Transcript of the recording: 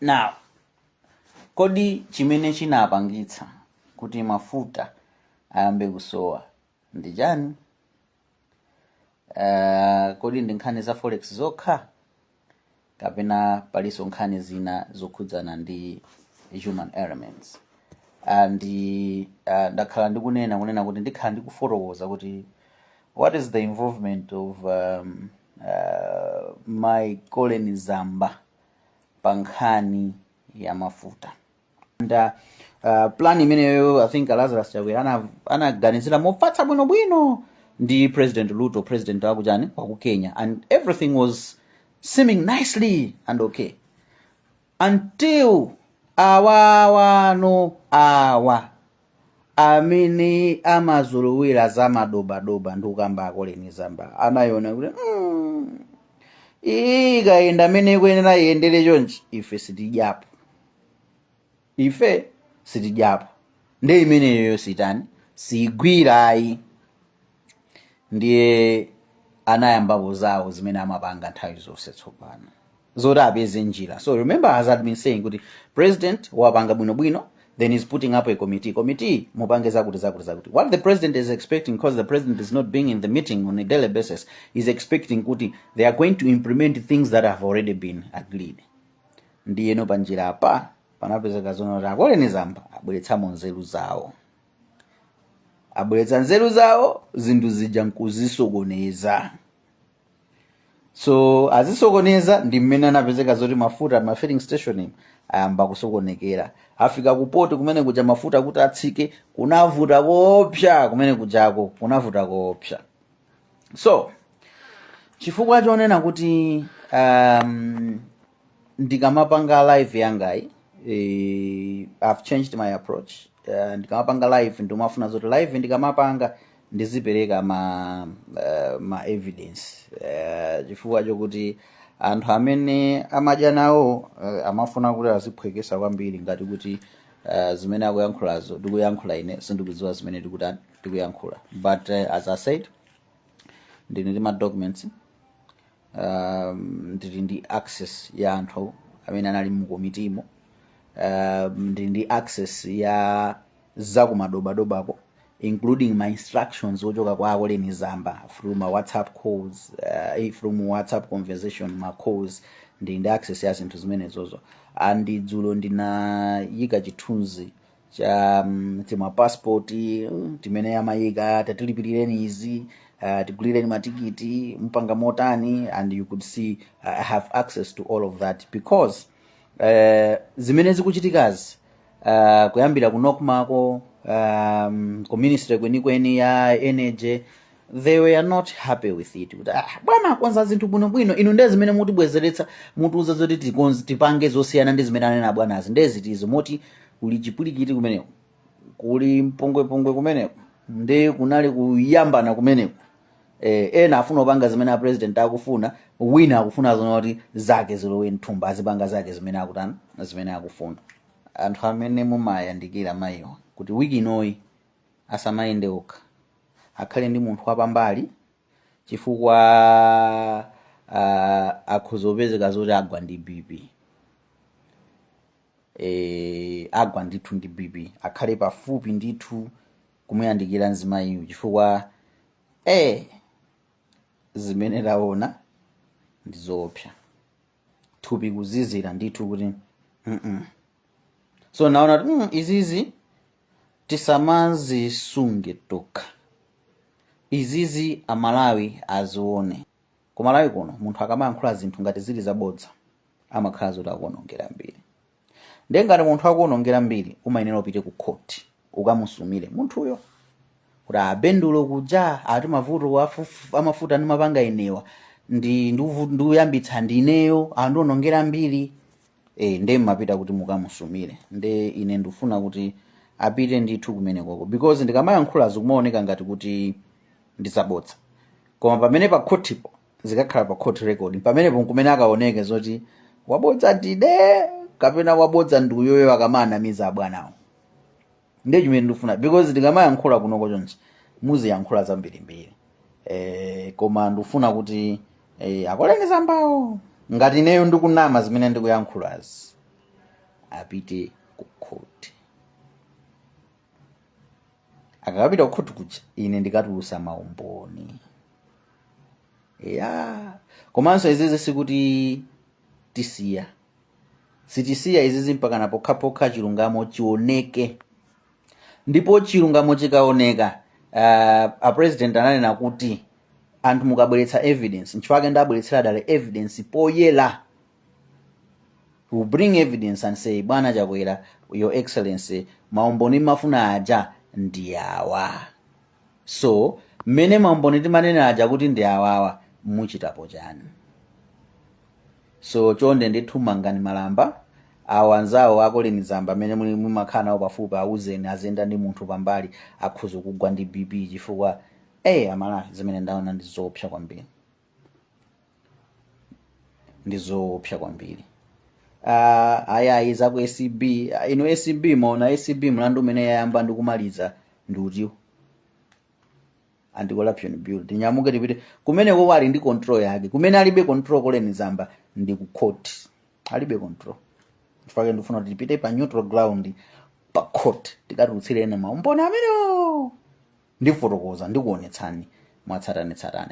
now kodi chimene chinapangitsa kuti mafuta ayambe kusowa ndi chani uh, kodi ndi nkhani za forex zokha kapena palinso nkhani zina zokhudzana ndi human elements and uh, ndakhala ndikunena kunena kuti ndikhala ndikufotokoza kuti what is the involvement of um, uh, mai Colleen Zamba pa nkhani ya mafuta and uh, uh, plan imeneyo I think Lazarus Chakwera ana- anaganizira mofatsa bwinobwino ndi President Ruto president wakuchani waku Kenya and everything was seeming nicely and okay until awawa ano awa amene amazolowera za madobadoba ndikukamba a Colleen Zamba anayona kuti mm, iyi ikayenda mmene ikuyenera iyendere chonchi ife sitidyapo ife sitidyapo ndi imeneyoyo sitayilo siigwirayi ndiye anayambapo zawo zimene amapanga nthawi zonse tsopano zoti apeze njira so remember as I've been saying kuti president wapanga bwinobwino then he's putting up a committee committee mupange zakuti zakuti zakuti what the president is expecting because the president is not being in the meeting on a daily basis he's expecting kuti they are going to implement things that have already been agreed ndiyeno panjira apa panapezeka zonoti a Colleen Zamba abweretsamo nzeru zawo abweretsa nzeru zawo zinthu zija nkuzisokoneza so azisokoneza ndi mmene anapezeka zoti mafuta m'ma filling station ayamba kusokonekera afika ku port kumene kuja mafuta kuti atsike kunavuta koopsa kumene kujako kunavuta koopsa so chifukwa chonena kuti um, ndikamapanga live yangayi eh, i've changed my approach uh, ndikamapanga live ndimafuna zoti live ndikamapanga ndizipereka ma uh, ma evidence uh, chifukwa chokuti anthu amene amadya nawo uh, amafuna kuti aziphwekesa kwambiri ngati kuti uh, zimene akuyankhulazo ndikuyankhula ine sindikudziwa zimene ndikuta- ndikuyankhula but uh, as i said ndili ndi ma documents um, ndili ndi access ya anthu amene anali mukomitimo um, ndili ndi access ya zakumadobadobako including ma instructions ochoka kwa a Colleen Zamba through ma whatsapp calls uh, eh, through mu whatsapp conversation ma calls ndili ndi access ya zinthu zimenezozo and dzulo ndinayika chithunzi cha mm, timapassport mm, timene amayika tatilipilireni izi uh, tigulireni matikiti mupanga motani and you could see uh, i have access to all of that because uh, zimene zikuchitikazi uh, kuyambira ku nocmako um, ku ministry kwenikweni ya energy they were not happy with it kuti ah, bwana akonza zinthu bwinobwino inu ndiye zimene mutibwezeretsa mutiuza zoti tipange zosiyana ndi zimene anena abwanazi ndiye ziti izo moti kuli chipulikiti kumeneko kuli mpungwepungwe kumeneko ndi kunali kuyambana kumeneko eh, ena afuna kupanga zimene apresident akufuna wina akufuna zona kuti zake zilowe mthumba azipanga zake zimene akutana zimene akufuna anthu amene mumayandikira mayiwa kuti wiki inoyi asamayende okha akhale ndi munthu wapambali chifukwa uh, akhoza kupezeka zoti agwa ndi bp e, agwa ndithu ndi bp akhale pafupi ndithu kumuyandikira mzimayiyo chifukwa e, zimene taona ndi zoopsa thupi kuzizira ndithu kuti mm -mm. so naona kuti mm, izizi tisamazisunge tokha izizi amalawi azione kumalawi kuno munthu akamayankhula zinthu ngati zili zabodza amakhala zoti akuwonongera mbiri ndiye ngati munthu akuonongera mbiri umayenera upite ku khoti ukamusumire munthuyo kuti abendulo kuja ati mavuto afufu- amafuta ndimapanga ine awa ndi ndiuvu- ndiuyambitsa ndineyo andionongera mbiri e, nde mmapita kuti mukamusumire nde ine ndikufuna kuti apite ndithu kumenekoko because ndikamayankhula zikumaoneka ngati kuti ndizabodza koma pamene pa khotipo zikakhala pa court record pamenepo nkumene akaoneke zoti wabodza ndine kapena wabodza ndi uyo yo akamanamiza abwanawo ndiye chimene ndikufuna because ndikamayankhula kunoko chonchi muziyankhula zambirimbiri eh, koma ndikufuna kuti eh, a colleen zambawo ngati ineyo ndikunama zimene ndikuyankhulazi apite ku court akakapita ku court kuja ine ndikatulusa maumboni ya komanso izizi sikuti tisiya sitisiya izizi mpakana pokhapokha chilungamo chioneke ndipo chilungamo chikaoneka uh, a president ananena kuti anthu mukabweretsa evidence nchifake ndabweretsera dala evidence poyera we bring evidence and say bwana chakwera your excellency maumboni mumafuna aja ndi awa so mmene maumboni timanena aja kuti ndi awawa muchitapo chani so chonde ndithu mangani malamba awo anzawo a Colleen Zamba amene muli mumakhala nawo pafupi auzeni aziyenda ndi munthu pambali akhoza kugwa ndi bp chifukwa eh amalawi zimene ndaona ndi zoopsa kwambiri ndi zoopsa kwambiri Ah, ayayi za ku acb Ah, inu acb mwaona acb mlandu umene yayamba ndi kumaliza ndi utiwo anti-corruption bureau tinyamuke tipite kumeneko ali ndi control yake kumene alibe control Colleen Zamba ndi ku court alibe control chifukwa ndifuna kuti tipite pa neutral ground pa court tikatulutsire ena maumboni amenewo ndifotokoza ndikuonetsani mwatsatanetsatane